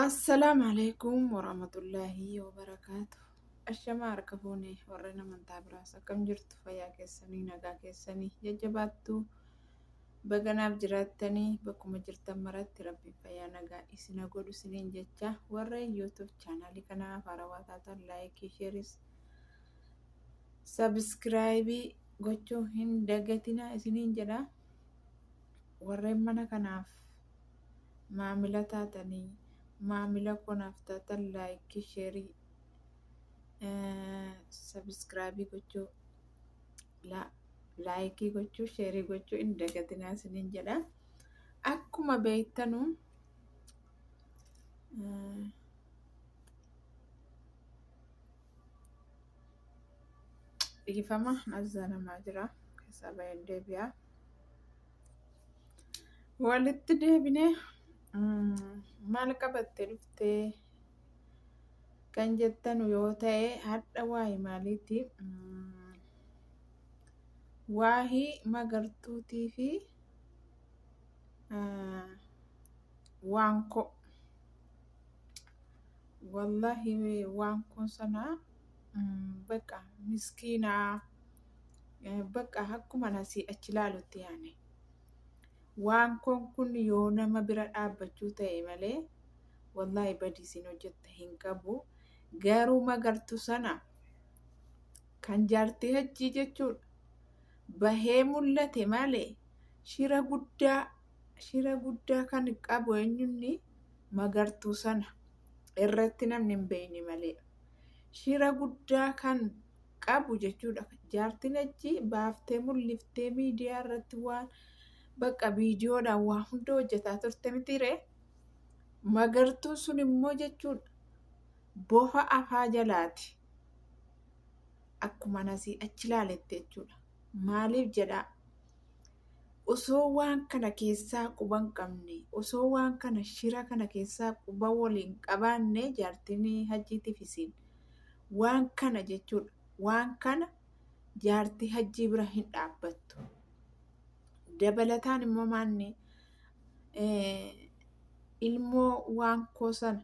Assalaamu alaikum warahmatullaahi wabarakaatu. Ashamaa harka fuune warreen amantaa biraas akkam jirtu fayyaa keessanii nagaa keessanii jajjabaattuu baganaaf jiraattanii bakkuma jirtan maratti rabbiin fayyaa nagaa isin haa godhu isiniin jecha warreen yuutuub chaanaalii kanaaf haarawaa taatan laayikii sheeris sabiskiraayibii gochuu hin dagatinaa isiniin jedha. Warreen mana kanaaf maamila taatanii maamila koo naaf taatan laayikii sheerii sabiskiraabii gochuu la- laayikii gochuu sheerii gochuu hin dagatinaa isiniin jedha akkuma beektanu eh, dhiifama nazzaanamaa jira keessaa baay'een deebi'aa Walitti deebine maal qabattee dhuftee kan jettanu yoo ta'e hadha waayi maaliiti waahi magartuutii fi waankoo wallahi waankoon sanaa baqa miskiinaa. Bakka akkuman asii achi ilaalutti yaane. Waankoon kun yoo nama bira dhaabbachuu ta'e malee wallaahi badii isin hojjetta hin qabu. Garuu magartu sana kan jaartii hajjii jechuudha. Bahee mul'ate malee shira guddaa shira guddaa kan qabu eenyunni magartuu sana irratti namni hin beekne malee. Shira guddaa kan qabu jechuudha jaartiin achi baaftee mulliftee miidiyaa irratti waan bakka viidiyoodhaan waa hunda hojjetaa turte mitiiree magartuun sun immoo jechuudha bofa afaa jalaati akkuma nasii achi laaletti jechuudha maaliif jedhaa osoo waan kana keessaa quba hin qabne osoo waan kana shira kana keessaa quba waliin qabaanne jaartiin hajjiitiif isiin Waan kana jechuudha. Waan kana jaartii hajjii bira hin dhaabbattu. Dabalataan immoo maanni ilmoo waan koo sana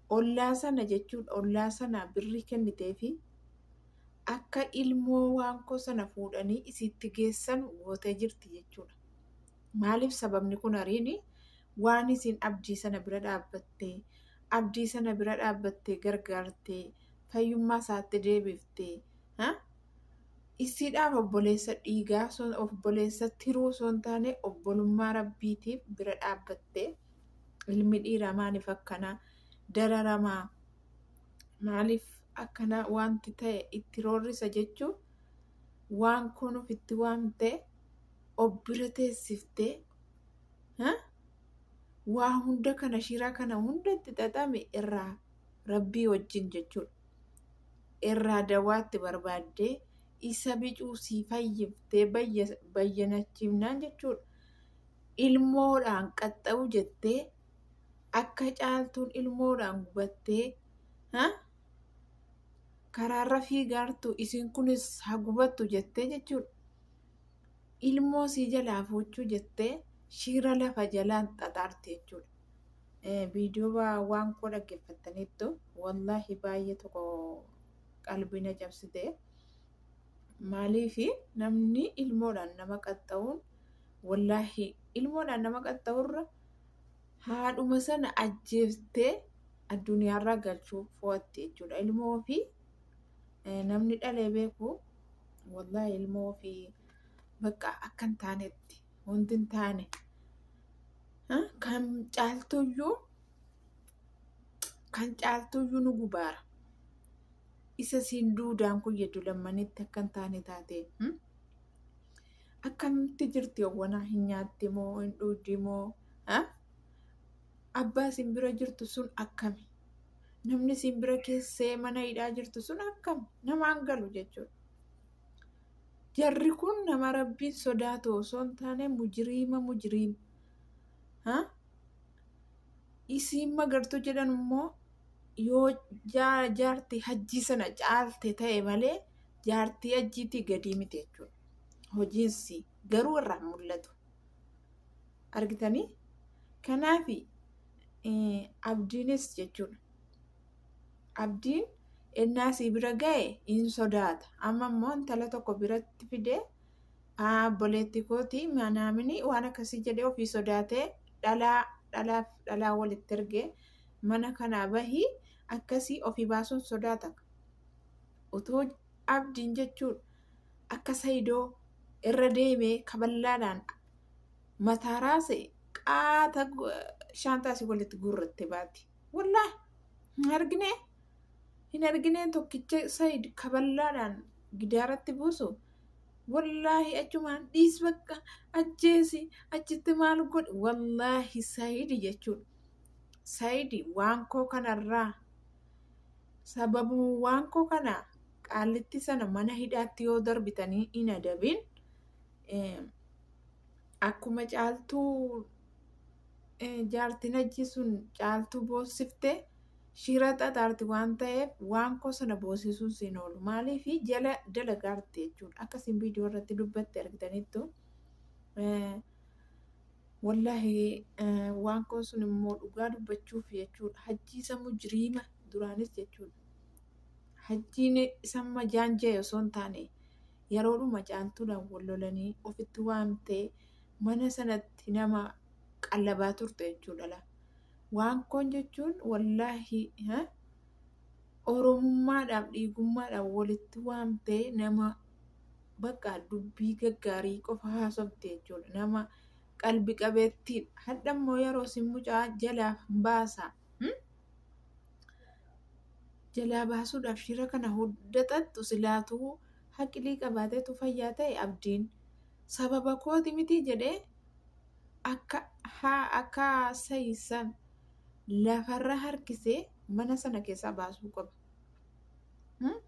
ollaa sana jechuun ollaa sana birrii kennitee fi akka ilmoo waan koo sana fuudhanii isiitti geessan gootee jirti jechuudha. Maaliif sababni kun ariini waan isiin abdii sana bira dhaabbattee, abdii sana bira dhaabbattee gargaartee, fayyummaa isaatti deebifte, ha? Isiidhaaf obboleessa dhiigaa, son- obboleessa tiruu osoo hin taane obbolummaa Rabbiitiif bira dhaabbattee, ilmi dhiiraa maaliif akkanaa dararamaa, maaliif akkana wanti ta'e itti roorrisa jechuu waan kun ofitti waamtee of bira teessiftee ha waa hunda kana shira kana hunda itti xaxame irraa rabbii wajjin jechuudha irraa dawaatti barbaaddee isa bicuu sii fayyiftee bayya- bayyanachiifnaan jechuudha ilmoodhaan qaxxa'u jettee akka caaltuun ilmoodhaan gubattee ha karaarra fiigaartu isin kunis ha gubattu jettee jechuudha ilmoo sii jalaa fuuchuu jettee shiira lafa jalaan xaxaarti jechuudha. Viidiyoo waan koo dhaggeeffattaniittu wallaahi baay'ee tokko qalbii na cabsite. Maaliif namni ilmoodhaan nama qaxxa'uun wallaahi ilmoodhaan nama qaxxa'urra haadhuma sana ajjeeftee addunyaarraa galchuu fo'atti jechuudha. Ilmoo fi Namni dhalee beeku wallahi ilmoo ofii bakka akka hin taanetti wanti hin taane kan caaltuyyuu kan caaltuyyuu nu gubaara. Isa siin duudaan kun jedhu lammanitti akka hin taane taate akkamitti jirti hawwanaa hin nyaatti moo hin dhuuddi moo abbaa isin bira jirtu sun akkami? Namni isin bira keessee mana hidhaa jirtu sun akkami? Namaan galu jechuudha. Jarri kun nama rabbiin sodaatu osoo hin taane mujiriima mujiriima. Ha? Isiin magartuu jedhan immoo yoo jaa- jaartii hajjii sana caalte ta'e malee jaartii hajjiitii gadii miti jechuudha. Hojiinsi garuu irraa hin mul'atu. argitanii kanaaf abdiinis jechuudha abdiin ennaa sii bira ga'e in sodaata amma immoo intala tokko biratti fidee obboleetti kooti manaaminii waan akkasii jedhee ofii sodaatee dhalaa dhalaaf dhalaa walitti ergee mana kanaa bahii akkasii ofii baasuun sodaata utuu abdiin jechuun akka sayidoo irra deemee kaballaadhaan mataa raase qaata shaantaa si walitti guurratte baati. Wallaa hin argine hin argine tokkicha sayid kaballaadhaan gidaaratti buusu. Wallaahi achumaan dhiis bakka ajjeesi achitti maal godhi wallaahi sayidi jechuudha. Sayidi waan koo kanarraa Sababuwwaan koo kana qaallitti sana mana hidhaatti yoo darbitanii hin adabin akkuma caaltuu jaartin hajjii sun caaltuu boossifte shira xaxaarti waan ta'eef waan koo sana boosisuun siin oolu maaliif jala dalagaarti jechuudha akkasiin viidiyoo irratti dubbatte argitaniittu Wollahi waan kun sun immoo dhugaa dubbachuuf jechuudha. Hajjii isa mujriima duraanis jechuudha. Hajjiin isa amma jaanja'e osoo hin taane yeroodhuma caaltuudhaan wal lolanii ofitti waamtee mana sanatti nama qallabaa turte jechuudha. la. Waan kun jechuun wollahi ha, oromummaadhaaf dhiigummaadhaaf walitti waamtee nama bakka dubbii gaggaarii qofa haasofti jechuudha. Nama qalbi qabeettiidha. Hadha immoo yeroo sin mucaa jalaa baasa. Hmm? Jalaa baasuudhaaf shira kana hunda xaxxu silaatuu haqilii qabaateetu fayyaa ta'e abdiin. Sababa kooti miti jedhee akka haa akka sayisan lafarra harkisee mana sana keessaa baasuu qaba. Hmm?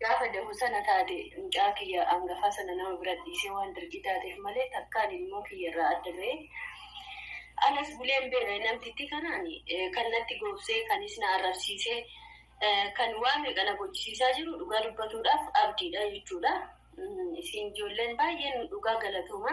Gaafa dahu sana taate mucaa kiyya angafaa sana nama bira dhiisee waan dirqii taateef malee takkaan ilmoo kiyya irraa adda ba'ee alas buleen beela namtittii kanaan kan natti goobsee kanis na arrabsiisee kan waa meeqa na gochisiisaa jiru dhugaa dubbatuudhaaf abdiidha jechuudha. Isin ijoolleen baay'een dhugaa galatooma.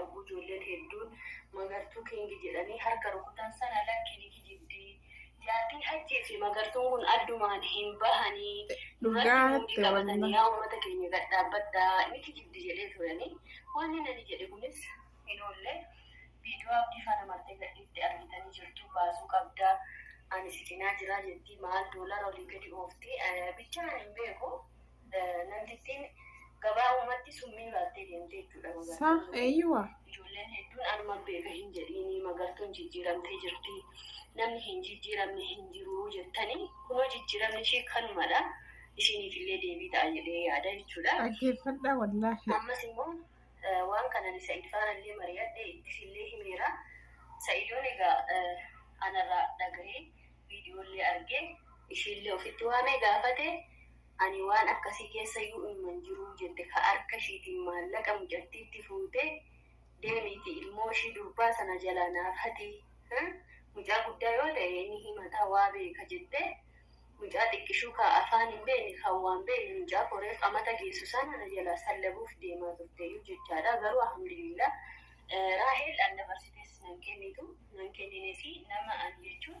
Ogguu ijoolleen hedduun Magartuu King jedhanii harka rukutan sana lakki ni kijibdi. Jaartiin Hajjii fi Magartuun kun addumaan hin bahanii nurratti Dhugaa muudii jette qabatanii wallah. yaa uummata keenya gad dhaabbadhaa ni kijibdi jedhee turanii. Wanni nani jedhe kunis hin oolle. Viidiyoo abdii faana martee gadhiifte argitanii jirtu baasuu qabda. Ani si cinaa jiraa jetti maal doolara olii gadi oofti. Eh, Bichaa ani hin beeku. namtittiin gabaa uumatti summii baattee deemtee jechuudha Sa magartuun. eeyyuwa. Ijoolleen hedduun anuman beeka hin jedhiini magartuun jijjiiramtee jirti. Namni hin jijjiiramne hin jiru jettanii kunoo jijjiiramni ishee kanumadha. Isiniif illee deebii ta'a jedhee yaada jechuudha. Dhaggeeffadhaa wallaahi. Ammas immoo eh, waan kanan Sa'id faana illee mari'adhe ittis illee himeera. Sa'idoon egaa eh, anarraa dhagahee viidiyoo illee argee ishee illee ofitti waamee gaafate Ani waan akkasii keessa yuu'umma hin jiruu jette ka harka ishiitiin maallaqa mucattiitti fuute deemiitii ilmoo ishii durbaa sana jalaa naaf hati hii mucaa guddaa yoo ta'e ni himataa waa beeka jettee mucaa xiqqishuu ka afaan hin beekne kan waan beekne mucaa koo reef amata geessu sana na jalaa sallabuuf deemaa turteeyyuu jechaadha garuu alhamdulillah Raahel an dabarsitees nan kennitu nan kenninesi nama ani jechuun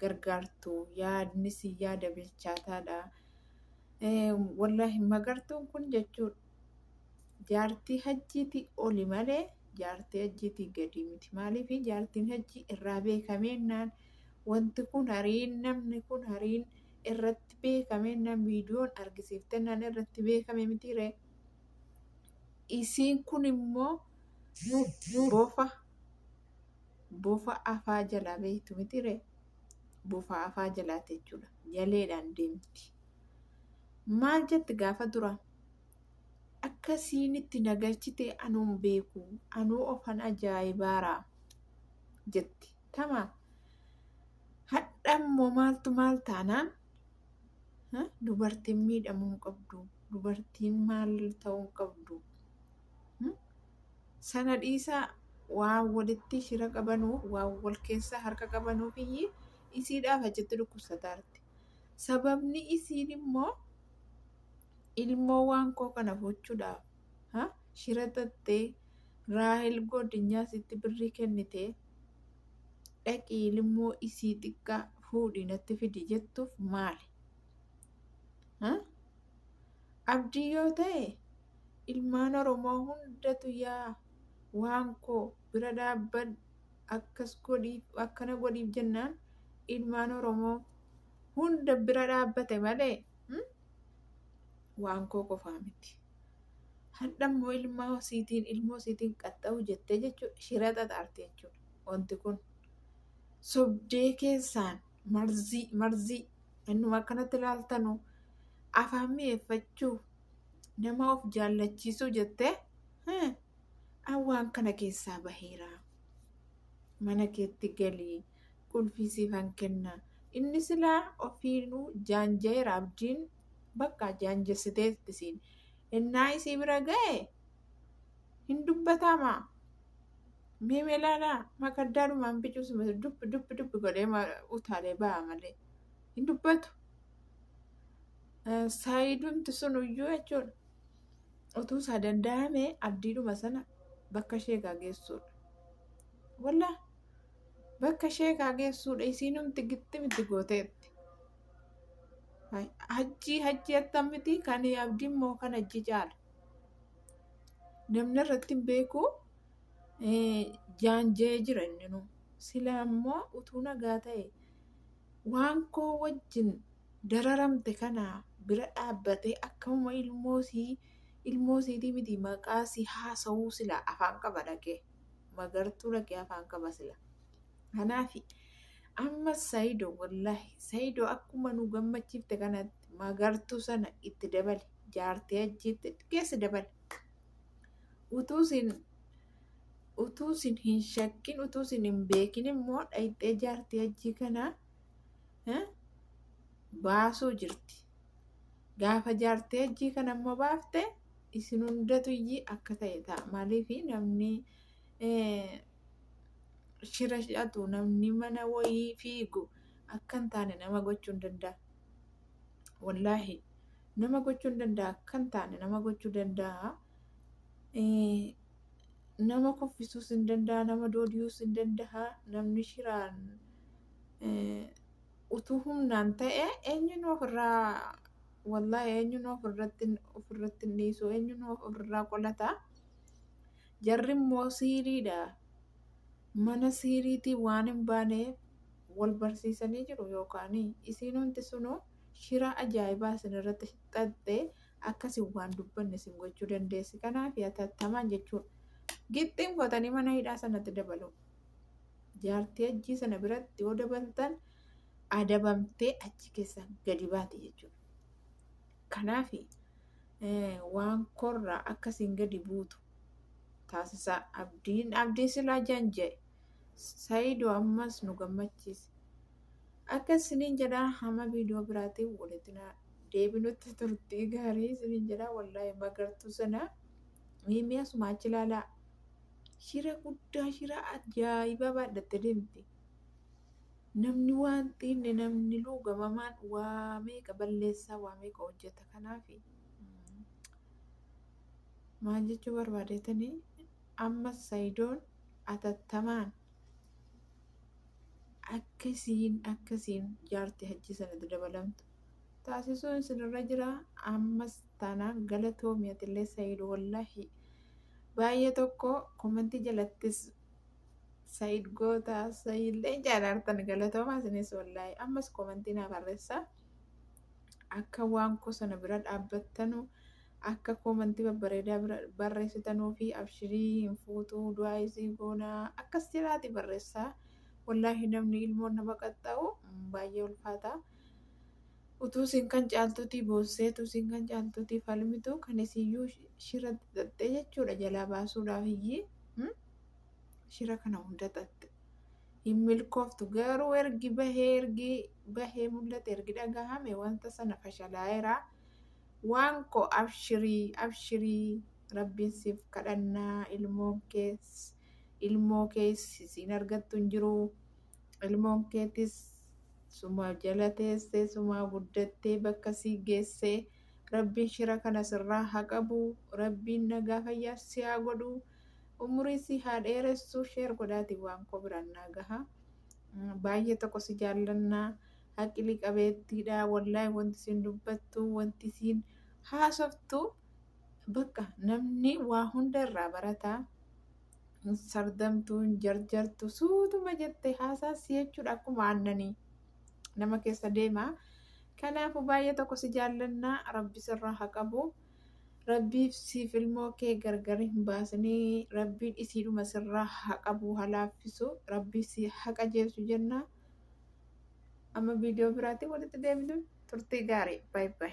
gargaartu yaadni si yaada bilchaataadha. Wallaahi magartuun kun jechuun jaartii hajjiitii oli malee jaartii hajjiitii gadi miti. Maaliif jaartiin hajjii irraa beekameennaan wanti kun hariin namni kun hariin irratti beekameennaan viidiyoon argisiiftennaan irratti beekame mitiire. Isiin kun immoo bofa bofa afaa jalaa beektu mitire bofa afaa jalaati jechuudha jaleedhaan deemti maal jetti gaafa dura akka siinitti nagalchite anuun beeku anuu ofan ajaa'ibaara jetti tama hadha immoo maaltu maal taanaan dubartiin miidhamuu hin qabdu dubartiin maal ta'uu hin qabdu Hmm? Sana dhiisaa waan walitti shira qabanuuf waan wal keessa harka qabanuuf iyyii isiidhaaf achitti dhukkubsataarti. Sababni isiin immoo ilmoo waan koo kana fuuchuudhaaf ha? shira xaxxee Raahel goodinyaa isitti birrii kennitee dhaqii ilmoo isii xiqqaa fuudhii natti fidi jettuuf maali? Ha? Abdii yoo ta'e ilmaan oromoo hundatu yaa waan koo bira dhaabbadhu akkas godhiif akkana godhiif jennaan ilmaan oromoo hunda bira dhaabbate malee hmm? waan koo qofaa miti hadha immoo ilmaa isiitiin ilmoo isiitiin qaxxa'u jettee jechuudha shira xaxaarte jechuudha wanti kun sobdee keessaan marzii marzii innuma akkanatti ilaaltanu afaan mi'eeffachuuf nama of jaallachiisuu jettee hmm, an waan kana keessaa baheera mana keetti galii qulfii siifan kenna inni silaa ofiinuu jaanjayeera abdiin bakka jaanjessiteetti siin ennaa isii bira ga'e hin dubbataama mee melaalaa makaddaa dhumaan bicuusuma dubbi dubbi dubbi godhee ma- utaalee ba'a malee hin dubbatu Saayidumti sun iyyuu jechuudha. Utuu isaa danda'ame abdiidhuma sana bakka ishee egaa geessuudha. Wallaa bakka ishee egaa geessuudha isiinumti gitti miti gooteetti. Hajjii hajjii attamitti kan abdii immoo kan hajjii caala. Namni irratti hin beeku jaanjee jira inni nu. Sila immoo utuu nagaa ta'e waan koo wajjin dararamte kana bira dhaabbatee akkamuma ilmoosii ilmoosiitii miti maqaa si haasa'uu sila afaan qaba dhaqee magartuu dhaqee afaan qaba sila. Kanaafi amma Sayido wallahi Sayido akkuma nu gammachiifte kanatti magartuu sana itti dabali jaartii ajjiitti geessi dabali. Utuu siin utuu sin hin shakkin utuu sin hin beekin immoo dhayxee jaartii hajjii kana eh, baasuu jirti gaafa jaartii hajjii kana immoo baafte isin hundatu iyyii akka ta'e ta'a maaliif namni eh, shira hidhatu namni mana wayii fiigu akka hin taane nama gochuu hin danda'a wallaahi nama gochuu hin danda'a akka hin taane nama gochuu danda'a nama kuffisuus hin danda'a nama doodiyuus hin danda'a namni shiraan utuu humnaan ta'e eenyuun ofirraa wallaahi eenyuun ofirratti ofirratti hin dhiisu eenyuun ofirraa qolata jarri immoo siiriidha mana siiriitii waan hin baaneef wal barsiisanii jiru yookaan isiin hundi sunuu shira ajaa'ibaa isin irratti xaxxee akka isin waan dubbanne isin gochuu dandeessi. Kanaafi hatattamaan jechuun gixxiin kotanii mana hidhaa sanatti dabaluu. Jaartii hajjii sana biratti yoo dabaltan adabamtee achi keessa gadi baati jechuudha. Kanaafi waan korraa akka isin gadi buutu taasisaa. Abdiin abdii silaa janja'e. Sayido ammas nu gammachiise. Akka isiniin jedhaa hama viidiyoo biraatiin walitti deebinutti turtii gaarii isiniin jedha wallaahi magartuu sana miimiyaa sumaa achi ilaalaa shira guddaa shira ajaa'ibaa baadhatte deemti namni waan xiinne namni luugamamaan waa meeqa balleessaa waa meeqa hojjeta kanaafi mm, maal jechuu barbaadetanii amma sayidoon atattamaan akkasiin akkasiin jaarti hajjii sanatti dabalamtu taasisuun isinirra jira ammas taanaan galatoomi atillee sayiid wallahi baay'ee tokko komentii jalattis sayiid goota sayiillee jaalaartan galatoomaa isinis wallahi ammas komentii naa barreessa akka waan koo sana bira dhaabbattanu akka komentii babbareedaa bira barreessitanuu fi abshirii hin fuutuu du'aa isii goonaa akkas jedhaati barreessaa wallahi namni ilmoon nama qaxxa'u baay'ee ulfaataa Utuu isin kan caaltuutii boossee, utuu isin kan caaltuutii falmitu, kan isiyyuu shiratti xaxxee jechuudha jalaa baasuudhaaf iyyii hmm? shira kana hunda xaxxe. Hin milkooftu garuu ergi bahee ergi bahee mul'ate ergi dhagahame wanta sana fashalaa'eera. Waan koo abshirii abshirii rabbiin siif kadhannaa ilmoon kees ilmoo kees siin argattu hin jiru. Ilmoon keetis suma jala teessee suma guddattee bakka si geesse. Rabbiin shira kana sirraa haa qabu. Rabbiin nagaa fayyaa si haa godhu. Umurii si haa dheeressu. Sheer godhaati waan koo biraan naa gaha. Baay'ee tokko si jaallanna. Haqilii qabeettiidha. Wallaahi wanti isin dubbattu, wanti isin haasoftu bakka namni waa hunda irraa barata. hin sardamtu hin jarjartu suutuma jette haasaa si jechuudha akkuma aannanii nama keessa deema kanaafu baay'ee tokko si jaallannaa rabbi sirraa haa qabu rabbiif siif ilmoo kee gargar hin baasinii rabbiin isiidhuma sirraa haa qabu haa laaffisu rabbii si haa qajeelchu jennaa amma viidiyoo biraatiin walitti deebinu turtii gaarii baay'ee.